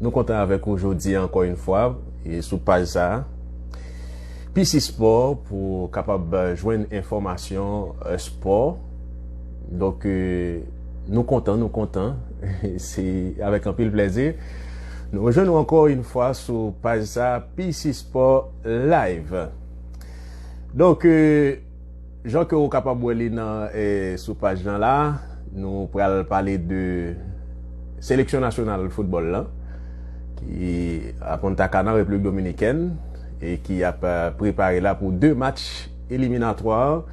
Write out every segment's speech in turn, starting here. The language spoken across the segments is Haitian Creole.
Nou kontan avèk ou jodi ankò yn fwa e sou paj sa. PC Sport pou kapab jwenn enfòmasyon spò. Donk nou kontan, nou kontan. Se avèk anpil plèzi. Nou rejwenn nou ankò yn fwa sou paj sa PC Sport Live. Donk. Jan ke ou kapab wè li nan sou paj lan la, nou pral pale de seleksyon nasyonal foutbòl lan ki a Punta Cana, Repiblik Dominikèn e ki ap prepare la pou 2 match eliminatwa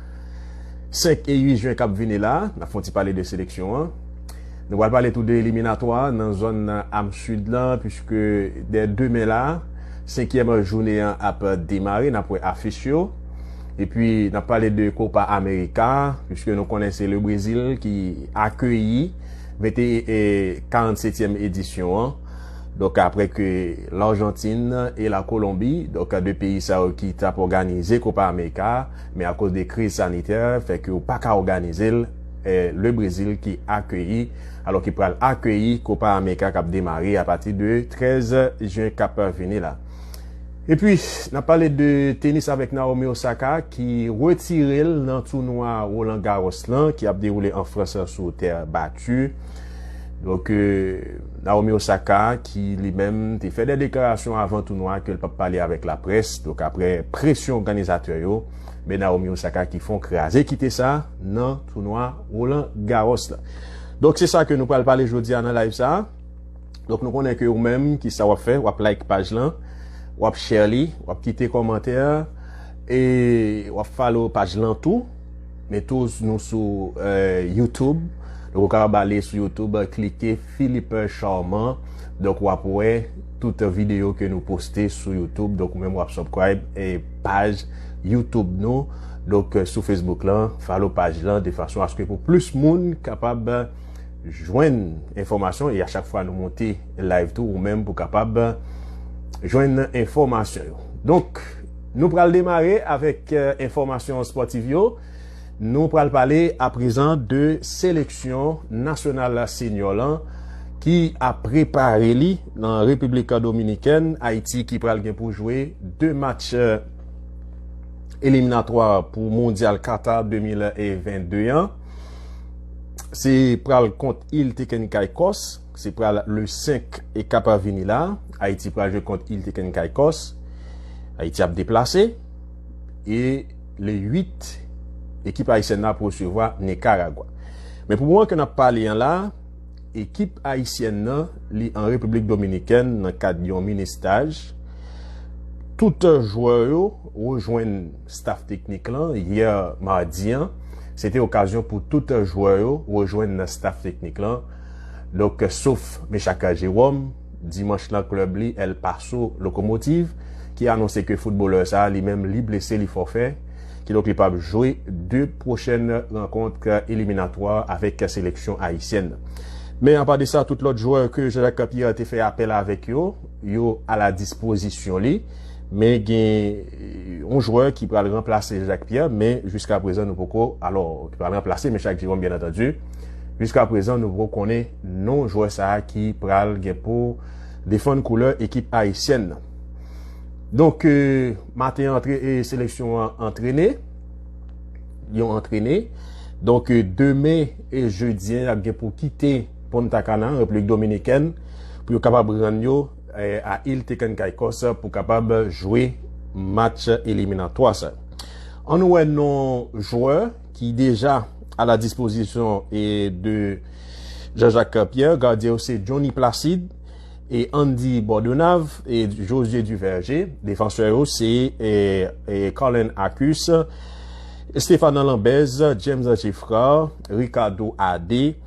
5 e 8 jen kap vini la. N ap fè yon ti pale de seleksyon an. Nou pral pale tou de eliminatwa nan zòn am Sid lan puiske dè demen la, senkyèm jounen an ap demare. N ap wè afich yo. Epi n ap pale de Copa America, piske nou konnen se le Brezil ki akeyi 47 èm edisyon an. Donk apre ke l Arjantin e la Kolonbi, donk 2 peyi sa yo ki t ap òganize Copa America, men akoz de kriz sanitè fè ke yo pa ka òganize l, le Brezil ki akeyi, alò ki pral akeyi Copa America k ap demare apati de 13 jen k ap vini la. E pi, n ap pale de tenis avèk Naomi Osaka ki retire l nan tounwa Roland Garros lan ki ap dewoule an Frans sou tè bati. Donk, Naomi Osaka ki li menm te fè de deklarasyon avan tounwa ke l p ap pale avèk laprès. Donk, apre presyon òganizatè yo, men Naomi Osaka ki fon kraze kite sa nan tounwa Roland Garros lan. Donk, se sa ke nou pral pale jodi a nan live sa a. Donk nou konnen ke ou menm ki sa wap fè, wap like paj lan, wap share li, wap kite komantè, e wap follow paj lan tou. Men tou nou sou euh, YouTube, donk ou kapab ale sou YouTube, klike Philippe Charmant, donk wap wè tout video ke nou poste sou YouTube, donk ou menm wap subscribe e paj YouTube nou, donk sou Facebook lan, follow paj lan de fason aske pou plis moun kapab. jwenn enfòmasyon e a chak fwa nou monte live tou ou menm pou kapab jwenn enfòmasyon yo. Donk, nou pral demare avèk enfòmasyon spòtiv yo. Nou pral pale a prezan de seleksyon nasyonal la senyor lan ki a prepare li nan Republik Dominikèn, Ayiti ki pral gen pou jwe 2 match eliminatwa pou mondyal Qatar 2022 an. Se pral kont Il Teken Caicos, se pral le 5 e kap vini la, Ayiti pral jwe kont Il Teken Caicos, Ayiti ap deplase, e le 8 ekip Ayisyen nan ap resevwa Nicaragua. Men pou mwen ke nap pale an la, ekip Ayisyen nan li an Republik Dominikèn nan kad yon mini staj, tout jwè yo rejwenn. staf teknik lan, yè madi an, se te okazyon pou tout jwè yo rejwenn staf teknik lan, donk sof Meshacca Jerome, dimanch lan klèb li El Paso Locomotiv ki anonse ke footbalè sa li menm li blese li fòfè, kidonk li pap jwe 2 pwochèn rankont eliminatwa avèk seleksyon ayisyèn. Men apa de sa tout lòt jwè ke Jean-Jacques Capier te fè apèl avèk yo, yo a la dispozisyon li men gen yon jwè ki pral ranplase Jacques Pierre men jiska prezan nou poko alò ki pral ranplase men Jacques Jerome byen antandu jiska prezan nou poko konnen non jwè sa ki pral gen pou defann koulè ekip ayisyèn nan donk maten antre e seleksyon an antrene yon antrene donk demen e jedi an ap gen pou kite Punta Cana replik dominikèn pou yo kapab rann yo a il Tecan Caicos pou kapab jwe match eliminatwa sa. An nou wè non jwè ki deja a la dispozisyon e de Jean-Jacques Pierre, gadye yo se Johnny Placide, e Andy Bordenave, e José Duverger, defansè yo se Carlin Acus, Stéphane Lambèze, James Geffrard, Ricardo Adé,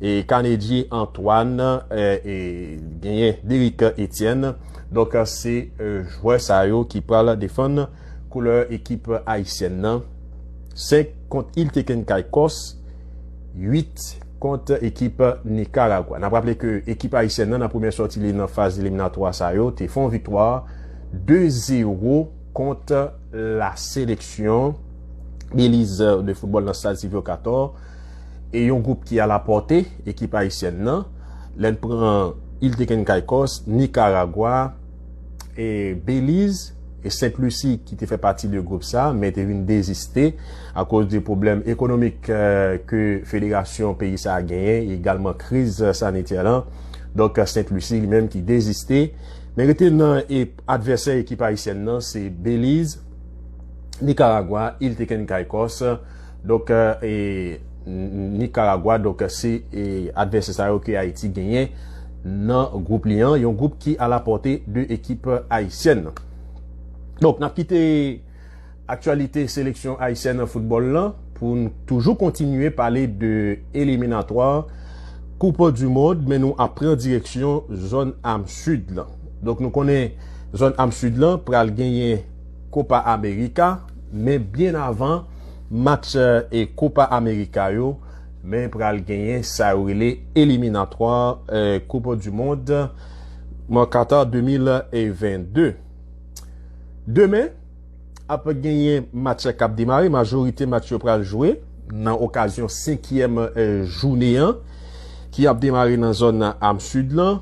E Canedie Antoine e genyen Derick Etienne. Donk se jwè sa yo ki pral defann koulè ekip ayisyèn nan. 5 kont Iltekin Caicos, 8 kont ekip Nikaragwa. N ap raple ke ekip ayisyèn nan nan premyè sòti li nan faz eliminatwa sa yo te fon viktwa 2 zero kont la seleksyon Beliz de foutbòl nan stad Sylvio Cator. e yon gwoup ki alapòte ekip ayisyèn nan, lè n pran Il de Can Caicos, Nikaragwa, e Beliz, e Sent Lisi ki te fè pati de gwoup sa men te vin deziste akoz de pwoblèm ekonomik ke federasyon peyi sa genyen e egalman kriz sanitè lan, donk Sent Lisi li menm ki deziste men rete nan e advèsè ekip ayisyèn nan se Beliz, Nikaragwa, Il de Can Caicos. Donk e Nikaragwa donk se advèsè sa yo ke Ayiti genyen nan gwoup li an, yon gwoup ki a la pòte de ekip ayisyèn nan. Donk nap kite aktyalite seleksyon ayisyèn nan foutbòl lan pou n toujou kontinye pale de eliminatwa koup du mond men nou ap pran direksyon zòn am sid lan. Donk nou konnen zòn am sid lan pral genyen kopa amerika men byen avan. match e Copa America yo, men pral genyen sa yo rele eliminatwa koup du mond mwen Qatar 2022. Demen ap genyen match kap demare, majorite match yo pral jwe nan okazyon 5 yèm jounen an ki ap demare nan zòn am sud lan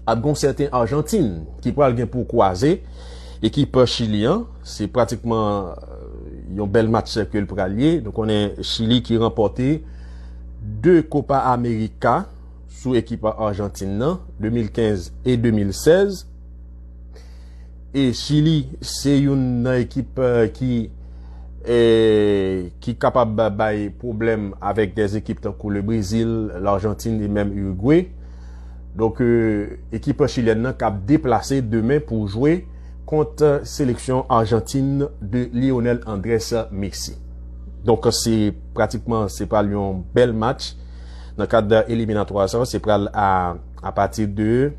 ap gon sèten Argentine ki pral gen pou kwaze ekip Chili an. Se pratikman yon bèl matchè ke l pral ye. Nou konnen Chili ki ranpòte 2 Copa America sou ekip Arjantin nan, 2015 e 2016. E Chili se youn nan ekip ki ki kapab bay pwoblèm avèk dè ekip tankou le Brezil, L'Argentine e menm Uruguay. Donk ekip chilyèn nan kab deplase demen pou jwe. kont seleksyon Arjantin de Lionel Andres Messi. Donk se pratikman se pral yon bèl match nan kad eliminatwa sa, se pral a apati de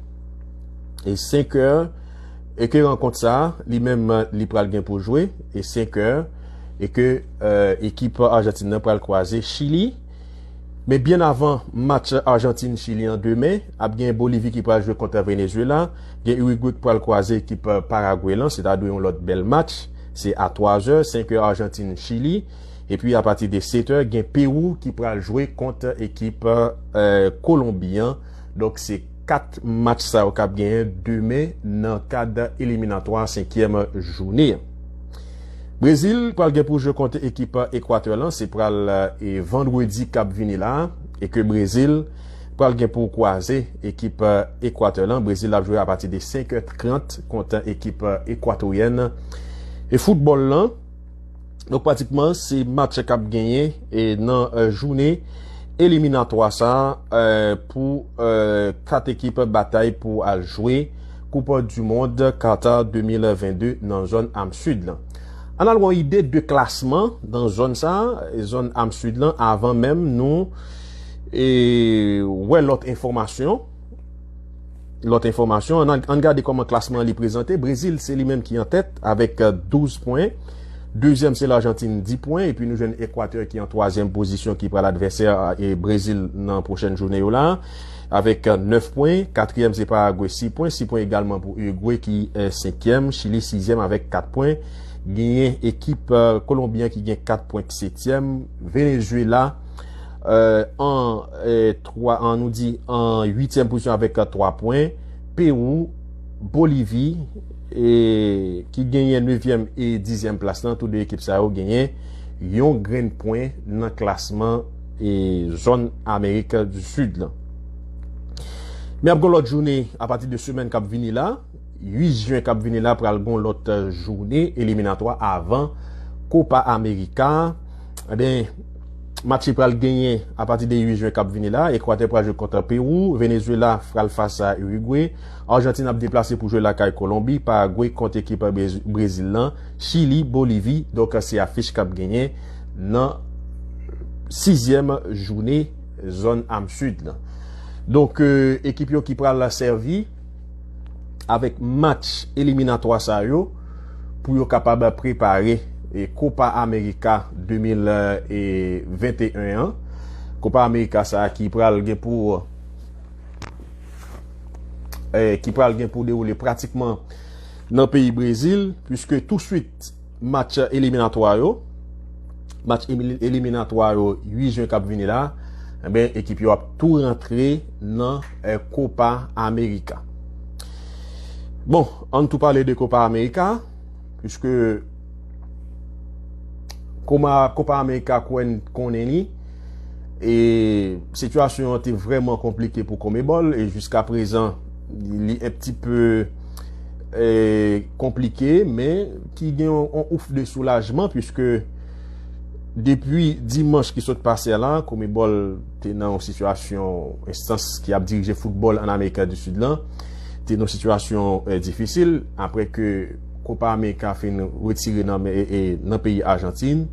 e 5 è e ke rankont sa li menm li pral gen pou jwe e 5 è e ke ekip Arjantin nan pral kwaze Chili. Men byen avan match Arjantin-Chili an demen, ap gen Bolivi ki pral jwe kont Venezuela, gen Urigwe ki pral kwaze ekip Paragwe lan, se ta dwe yon lòt bèl match, se a 3 zè, 5 è Arjantin-Chili, epi a pati de 7 è gen Pewou ki pral jwe kont ekip Kolonbi an, donk se 4 match sa yo kap genyen demen nan kad eliminatwa 5 è joune an. Brezil pral gen pou jwe kont ekip Ekwatè lan se pral vandredi kap vini la e ke Brezil pral gen pou kwaze ekip Ekwatè lan Brezil ap jwe apati de 5 è 30 kont ekip Ekwatoryèn e foutbòl lan donk pratikman se match kap genyen e nan joune eliminatwa sa pou 4 ekip batay pou al jwe Koup du mond Qatar 2022 nan zòn am Sud lan. Ann al gon ide de klasman nan zòn sa, zòn am Sud lan avan menm nou wè lòt enfòmasyon, lòt enfòmasyon ann gade kòman klasman an li prezante, Brezil se li menm ki an tèt avèk 12 pwen, dezyèm se Larjantin 10 pwen epi nou jwenn Ekwatè ki an twazyèm pozisyon ki pral advèsè Brezil nan pwochèn jounen yo la. Avèk 9 pwen, katriyèm se Paragwe 6 pwen, 6 pwen egalman pou Urugwe ki senkyèm, Chili sizyèm avèk 4 pwen, genyen ekip Kolonbi an ki gen 4 pwen k setyèm, Venezuela an nou di an uityèm pozisyon avèk 3 pwen, Pewou, Bolivi ki genyen nevyèm e dizyèm plas lan tou 2 ekip sa yo genyen yon grenn pwen nan klasman. e zòn Amerik di Sid lan. Men ap gen yon lòt joune apati de semèn k ap vini la, 8 jen k ap vini la pral gen yon lòt joune eliminatwa avan Kopa Amerika a. Enben, match ki pral genyen apati de 8 jen k ap vini la, Ekwatè pral jwe kont Pewou, Venezuela pral fas a Urigwe, Arjantin ap deplase pou jwe lakay Kolonbi, Paragwe kont ekip Brezil lan, Chili, Bolivi, donk se afich k ap genyen. nan sizyèm joune zòn am sud lan. Donk ekip yo ki pral la sèvi avèk match eliminatwa sa yo pou yo kapab prepare e Kopa Amerika 2021 an. Kopa Amerika sa ki pral gen pou ki pral gen pou dewoule pratikman nan peyi Brezil, pwiske tou suit Match eliminatwa yo Match eliminatwa yo 8 jen k ap vini la Enben ekip yo ap tou rantre nan Kopa Amerika Bon ann tou pale de Kopa Amerika Piske Koma Kopa Amerika kouwè n konnen li E sitiyasyon an te vrèman konplike pou Konmebòl E jiska prezan Li un pti peu konplike men ki gen yon ouf de soulajman puiske depi dimanch ki sot pase a la Conmebol te nan yon sitiyasyon enstans ki ap dirije foutbol an Amerika di Sid lan te nan yon sitiyasyon difisil apre ke Copa America fin retire nan peyi Ajantin.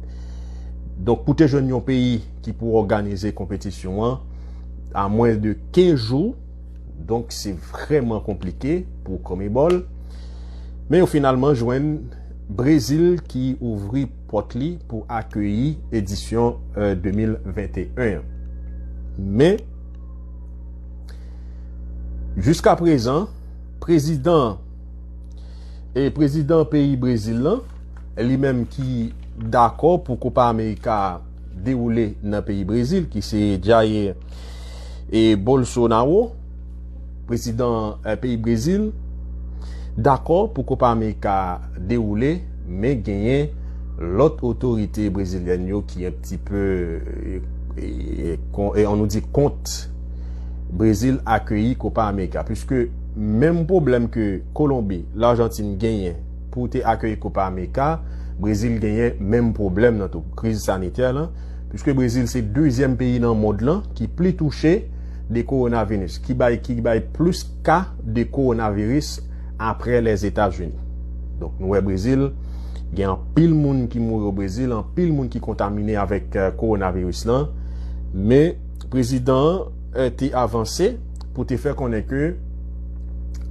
Donk pou te jwenn yon peyi ki pou òganize konpetisyon an a mwen de 15 jou. Donk se vrèman konplike pou Conmebol. Men yo finalman jwenn Brezil ki ouvri pòt li pou akeyi edisyon 2021 an. Men, jiska prezan, prezidan e prezidan peyi Brezil lan, li menm ki dakò pou Kopa Amerika a, dewoule nan peyi Brezil ki se Jair Bolsonaro, prezidan peyi Brezil, dakò pou Kopa Amerika a dewoule, men genyen lòt otorite brezilyèn yo ki yon ti pe, an nou di kont, Brezil akeyi Kopa Amerika. Piske menm pwoblèm ke Kolonbi, Lajantin genyen, Pou te akeyi Kopa Ameka, Brezil genyen menm pwoblèm nan tou, kriz sanitè lan, piske Brezil se dezyèm peyi nan mond lan ki pli touche de kowonavinus, ki bay ki bay plis ka de kowonaviris apre Lèzetazini. Donk nou wè Brezil gen anpil moun ki mouri o Brezil, anpil moun ki kontamine avèk kowonaviris lan. Men prezidan an te avanse. pou te fè konnen ke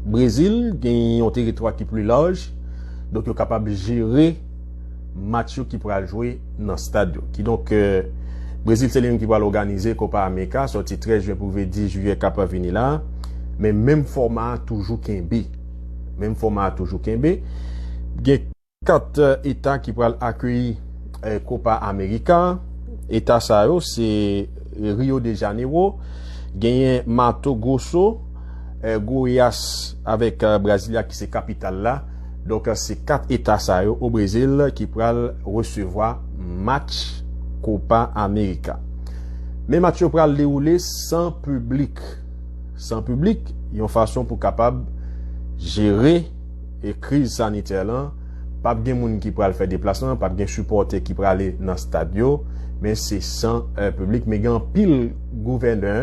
Brezil gen yon teritwa ki pli laj, donk yo kapab jere match yo ki pral jwe nan stad yo. Kidonk, Brezil se li menm ki pral òganize Kopa Amerika sòti 13 jyen pou rive 10 jiyè k ap vini la a, men menm fòma a toujou kenbe. Menm fòma a toujou kenbe. Gen. 4 eta ki pral akeyi Copa America, eta sa yo se Rio de Janeiro, genyen Mato Grosso, Goiás avèk Brasilia ki se kapital la. Donk se 4 eta sa yo o Brezil ki pral resevwa match Copa America. Men match yo pral dewoule san piblik. San piblik, yon fason pou kapab jere. e kriz sanitè lan, pap gen moun ki pral fè deplasman, pap gen sipòtè ki prale nan stad yo, men se san piblik, men gen anpil gouvènè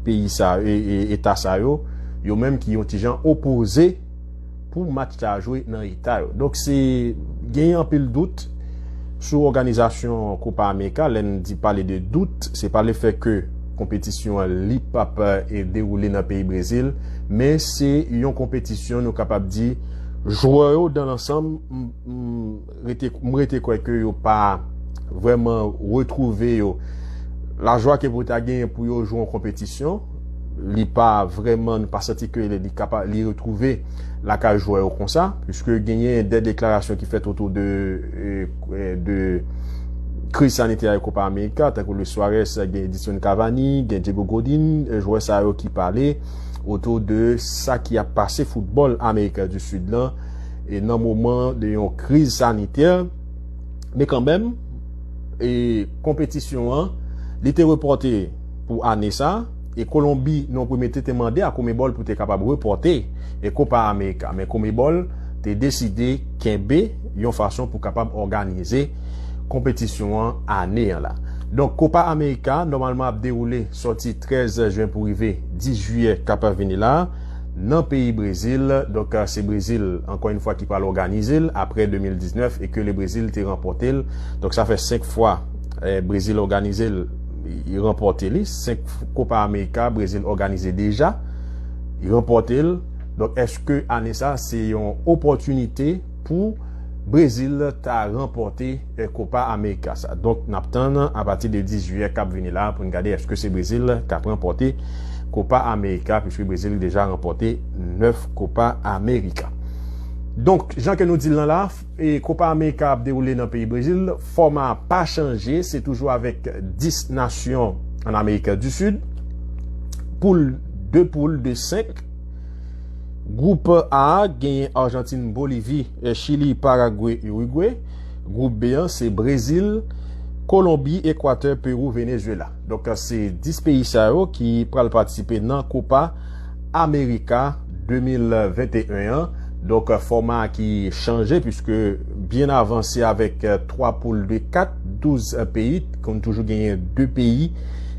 peyi sa yo, eta sa yo, yo menm ki yon ti jan opoze pou match sa jwe nan eta yo. Donk se genyen anpil dout sou òganizasyon Kopa Amerika, lè n di pale de dout, se pa le fè ke. Konpetisyon an li pap dewoule nan peyi Brezil, men se yon konpetisyon nou kapab di jwè yo dan lansanm m rete kwè ke yo pa vreman retwouve yo. Lajwa ke pou ta genyen pou yo jwe yon konpetisyon, li pa vreman nou pa santi ke li retwouve lakay jwè yo konsa, puiske genyen de deklarasyon ki fèt otou de. de kriz sanitè ak Copa America tankou Luis Suarez ak Edinson Cavani, gen Diego Godin, jwè sa yo ki pale otou de sa ki ap pase foutbòl America du Sud lan e nan moman de yon kriz sanitè men kanmenm e konpetisyon an li te repòte pou ane sa. E Kolonbi nan yon premye te te mande a Conmebol pou te kapab repòte e Kopa Amerika men Conmebol te deside kenbe yon fason pou kapab òganize konpetisyon an ane an la. Donk Kopa Amerika nòmalman ap dewoule sòti 13 jen pou rive 10 jiyè k ap vini la nan peyi Brezil donk se Brezil ankò yon fwa ki pral òganize l aprè 2019 e ke le Brezil te ranpòte l donk sa fè 5 fwa Brezil òganize l Li ranpòte li. 5 Copa America Brezil òganize deja. Li ranpòte l. Donk èske ane sa se yon opòtinite pou Brezil ta ranpòte Copa America sa? Donk n ap tann apati de 10 Jiyè k ap vini la pou n gade èske se Brezil k ap ranpòte Copa America puiske Brezil deja ranpòte 9 Copa America. Donk jan ke nou di l nan la. Kopa Amerika ap dewoule nan peyi Brezil, fòma a pa chanje, se toujou avèk 10 nasyon an Amerika di Sid. Poul 2 poul de 5. Gwoup A genyen Arjantin, Bolivi, Chili, Paragwe, Urigwe. Gwoup B an se Brezil, Kolonbi, Ekwatè, Perou, Venezuela. Donk se 10 peyi sa yo ki pral patisipe nan Copa America 2021 an. Donk fòma a ki chanje puiske byen avan se avèk 3 poul de 4, 12 peyi, t konn toujou genyen 2 peyi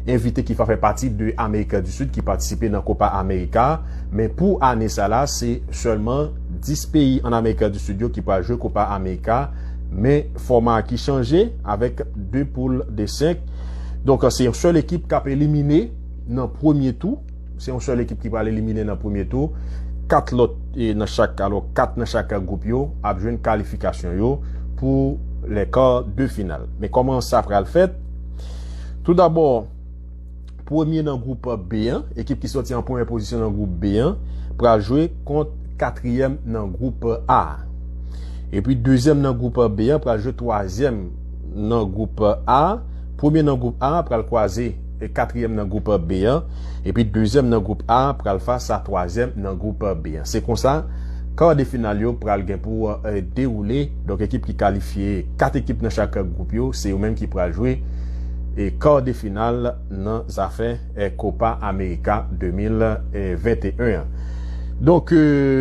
envite ki pa fè pati de Amerik di Sid ki patisipe nan Copa America a. Men pou ane sa la se sèlman 10 peyi an Amerik di Sid yo ki pral jwe Copa America a. Men fòma a ki chanje avèk 2 poul de 5. Donk se yon sèl ekip kap elimine nan premye tou. Se yon sèl ekip ki pral elimine nan premye tou. 4 lòt nan chak alò 4 nan chak gwoup yo ap jwenn kalifikasyon yo pou lè kar de final. Men kòman sa pral fèt? Tou dabò premye nan gwoup B an, ekip ki sòti an premye pozisyon nan gwoup B an pral jwe kont katriyèm nan gwoup A. Epi dezyèm nan gwoup B an pral jwe twazyèm. nan gwoup A, premye nan gwoup A pral kwaze katriyèm nan gwoup B an, epi dezyèm nan gwoup A pral fas a twazyèm nan gwoup B an. Se konsa kar de final yo pral gen pou dewoule, donk ekip ki kalifye, 4 ekip nan chak gwoup yo, se yo menm ki pral jwe kar de final nan zafè Kopa Amerika 2021 an. Donk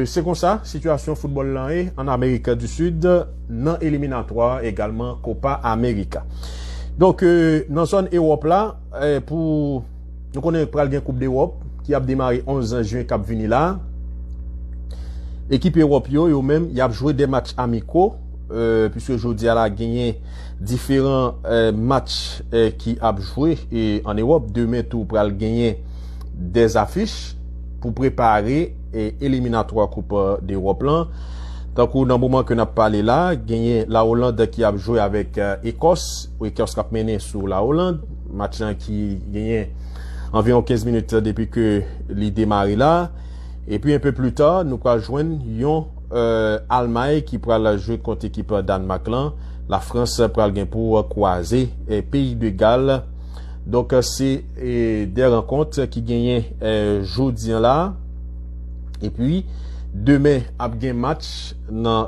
se konsa sitiyasyon foutbòl lan ye an Amerik di Sid. nan eliminatwa egalman Copa America. Donk nan zòn Ewòp la pou nou konnen pral gen koup dewòp ki ap demare 11 jyen kap vini la. Ekip Ewòp yo yo menm yap jwe 2 match amiko euh, pwiske jodi a la genyen diferan euh, match euh, ki ap jwe an Ewòp. Demen tou pral genyen 2 afich pou prepare e eliminatwa koup dewòp lan tankou nan moman ke nap pale la genyen la Hollande ki ap jwe avèk Ekòs ou Ekòs kap mennen sou la Hollande match lan ki genyen anviwon 15 minit depi ke li demare la epi enpe pli ta nou pral jwenn yon Almay ki pral jwe kont ekip Dànmak lan la Frans pral gen pou kwaze peyi de Gal. Donk se de rankont ki genyen jodi an la. E pi demen ap gen match nan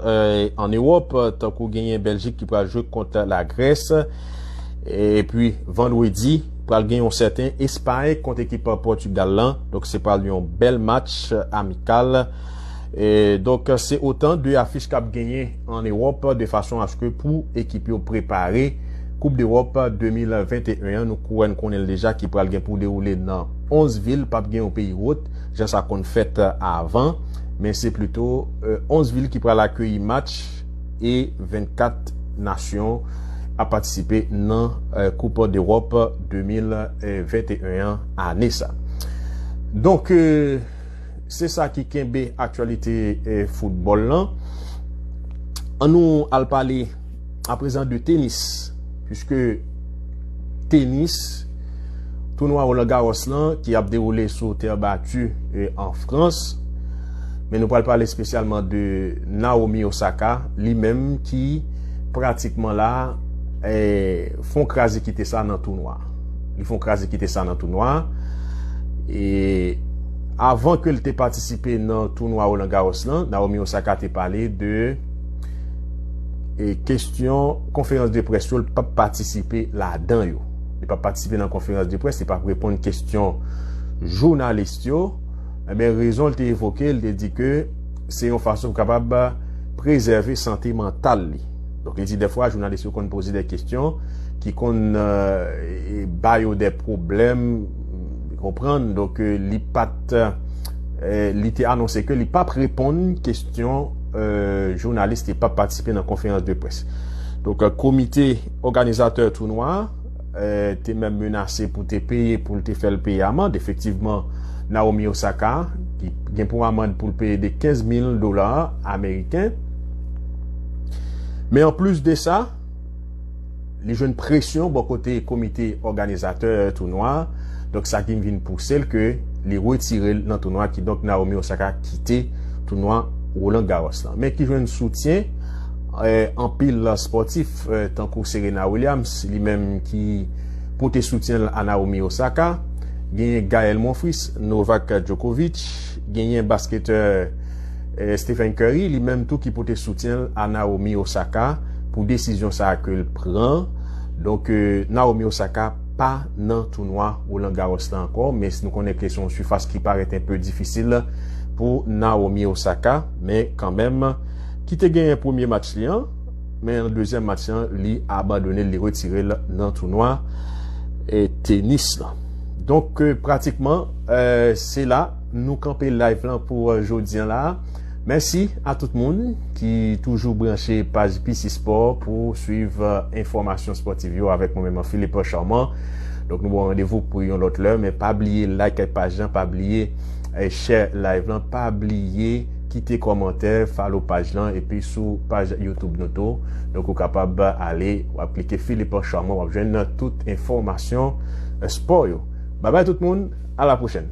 an Ewòp tankou genyen Beljik ki pral jwe kont la Grès. E pi vandredi pral gen yon sèten Espay kont ekip Pòtugal lan. Donk se pral yon bèl match amikal. Donk se otan de afich kap genyen. an Ewòp de fason aske pou ekip yo prepare koup dEwòp 2021 an nou kouwè n konnen l deja ki pral gen pou dewoule nan 11 vil pap gen yon peyi wot jan sa konn fèt avan men se plito 11 vil ki pral akeyi match e 24 nasyon ap patisipe nan koup dEwòp 2021 an ane sa donk. Se sa ki kenbe aktyalite foutbòl lan. An nou al pale aprezen de tenis. Piske tenis, tounwa Roland Garros lan ki ap dewoule sou tè bati an Frans. Men nou pral pale spesyalman de Naomi Osaka, li menm ki pratikman la fon kraze kite sa nan tounwa. Li fon kraze kite sa nan tounwa a. E avan ke li te patisipe nan tounwa Roland Garros lan, Naomi Osaka te pale de e kestyon konferans de pres yo li pap patisipe la dan yo. Li pap patisipe nan konferans de pres, li pap reponn kestyon jounalist yo. E ben rezon li te evoke, li te di ke se yon fason pou kapab prezève sante mantal li. Donk li di dèfwa jounalis yo konn poze dè kestyon ki konn ba yo dè pwoblèm konprann donk li pat li te anonse ke li pap reponn kestyon jounalis ki pap patisipe nan konferans de près donk komite òganizatè tounwa. te menm menase pou te peye pou l te fè l peye amand. Efektivman, Naomi Osaka ki gen pou amand pou l peye de 15 mil dola ameriken. Men anplis de sa, li jwenn presyon bò kote komite òganizatè tounwa, donk sa ki vin pouse l ke li retire l nan tounwa ki donk Naomi Osaka kite tounwa Roland Garros la. Men ki jwenn soutyen anpil spòtif. tankou Serena Williams li menm ki pote soutyen l a Naomi Osaka, genyen Gael Monfils, Novak Djokovic, genyen basketè Stephen Curry li menm tou ki pote soutyen l a Naomi Osaka pou desizyon sa ke l pran. Donk Naomi Osaka pa nan tounwa Roland Garros la ankò men nou konnen ke se yon sifas ki parèt enpe difisil pou Naomi Osaka men kanmenm ki te genyen premye match li an. Men nan dezyèm match lan li abandone l, li retire l nan tounwa tenis lan. Donk euh, pratikman euh, se la nou kanpe live lan pou euh, jodi an la. Mèsi a tout moun ki toujou branche paj PC Sport pou suiv enfòmasyon sportiv yo avèk mwen menman Philippe Charmant. Donk nou bon randevou pou yon lòt lè, men pa bliye like paj lan, pa bliye share live lan, pa bliye Kite kòmantè, follow paj lan epi sou paj YouTube nou tou. Donk ou kapab ale wap klike Philippe Charmant wap jwenn tout enfòmasyon spò yo. Babay tout moun, a la pwochèn.